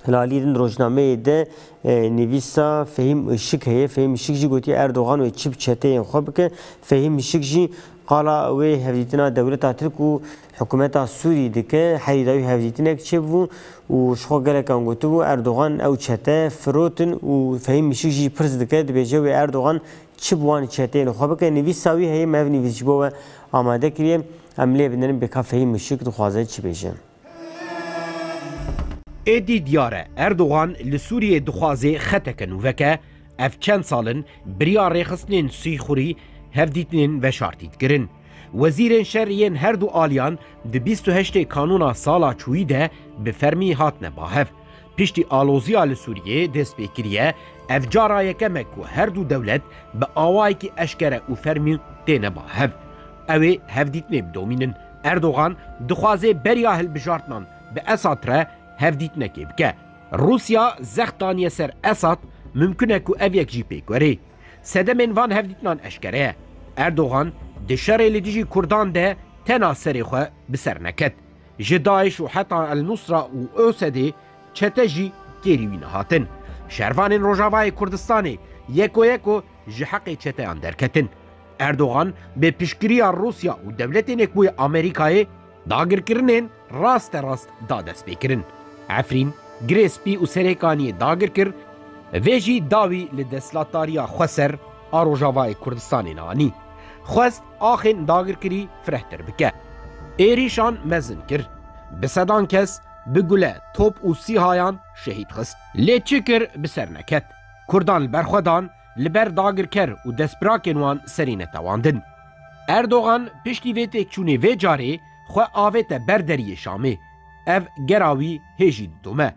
Lalî din rojnameyê de nivîsa Fehîm Işik heye. Fehîm Işik jî gotiye Erdogan wê çi bi çeteyên xwe bike. Fehîm Işik jî qala wê hevdîtina dewleta Tirk û hikumeta Sûrî dike. Herî dawî hevdîtinek çêbû û ji xwe gelekan gotibû Erdogan ew çete firotin û Fehîm Işik jî pirs dike dibêje wê Erdogan çi bi wan çeteyên xwe bike. Nivîsa wî heye me ev nivîs ji bo we amade kiriye. Em lê binin bêka Fehîm Işik dixwaze çi bêje. Êdî diyar e Erdogan li Sûriyê dixwazê xeteke nû veke, ev çend sal in biriya rêxistinên sîxurî hevdîtinên veşartî dikirin. Wezîrên şer yên her du aliyan di bîst û heştê kanûna sala çûyî de bi fermî hatine bahev. Piştî aloziya li Sûriyê dest pê kiriye, ev cara yekem e ku her du dewlet bi awayekî eşkere û fermî têne bahev. Ew ê hevdîtinê bidomînin. Erdogan dixwaze beriya hilbijartinan bi Esad re hevdîtinekê bike. Rûsya zext daniye ser Esad, mimkun e ku ev yek jî pêk were. Sedemên van hevdîtinan eşkere ye. Erdogan di şerê li dijî kurdan de tena serê xwe bi ser neket. Ji DAIŞ û heta El-Nusra û ÖSD çete jî kêrî wî nehatin. Şervanên Rojavayê Kurdistanê yeko yeko ji heqê çeteyan derketin. Erdogan bê piştgiriya Rûsya û dewletên ê ku yê Amerîkayê, dagirkirinên rasterast da destpêkirin. Efrîn, girê spî û Serêkaniyê dagir kir, vê jî dawî li destlatdariya xweser a Rojavayê Kurdistanê ne anî. Xwest axên dagirkirî firehtir bike. Êrîşan mezin kir. Bi sedan kes bi gule, top û sîhayan şehîd xist. Lê çi kir bi ser neket. Kurdan li ber xwe dan li ber dagirker û destbirakên wan serî netewandin. Erdogan piştî vê têkçûnê vê carê xwe avête ber deriyê Şamê. Ev gera wî hê jî didome.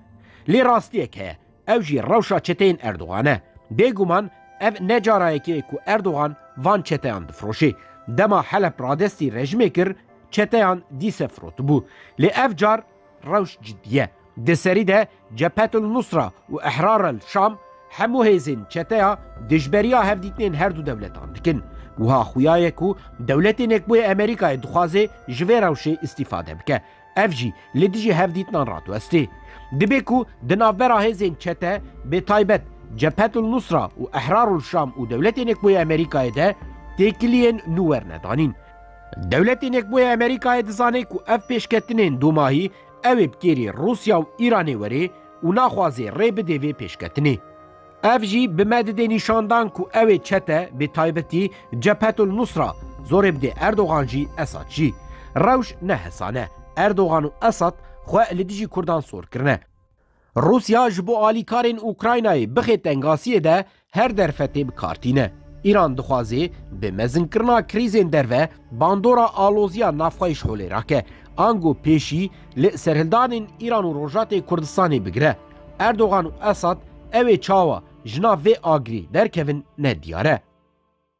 Lê rastiyek heye, ew jî rewşa çeteyên Erdogan e. Bêguman ev ne cara yekê ye ku Erdogan van çeteyan difiroşê. Dema Heleb radestî rejimê kir, çeteyan dîse firotibû. Lê ev car, Rewş cidî ye. Di serî de Cephetul Nusra û Ehrarel Şam hemû hêzên çeteya dijberiya hevdîtinên her du dewletan dikin. Wiha xuya ye ku Dewletên Yekbûyê Amerîkayê dixwaze ji vê rewşê îstîfade bike. Ev jî li dijî hevdîtinan radiweste. Dibe ku di navbera hêzên çete bê taybet Cephetul Nusra û Ehrarul Şam û Dewletên Yekbûyê Amerîkayê de têkiliyên nû werne danîn. Dewletê nekbûyê Amerîkayê dizane ku ev pêşketinên domahî ew ê bi kêrê Rûsya û Îranê were û naxwaze rê bide vê pêşketinê. Ev jî bi me dide nîşandan ku ew ê çete bi taybetî Cephetul Nusra zorê bide Erdogan jî Esad jî. Rewş ne hesane. Erdogan û Esad xwe li dijî Kurdan sor kirine. Rûsya ji bo alîkarên Ukraynayê bixê tengasiyê de her derfetê bi kar tîne. Îran dixwaze bi mezinkirina krîzên derve bandora aloziya navxweyiş holê rake, ango pêşî li serhildanên Îran û Rojatê Kurdistanê bigire. Erdogan û Esad ew ê çawa ji nav vê agirê derkevin ne diyar e.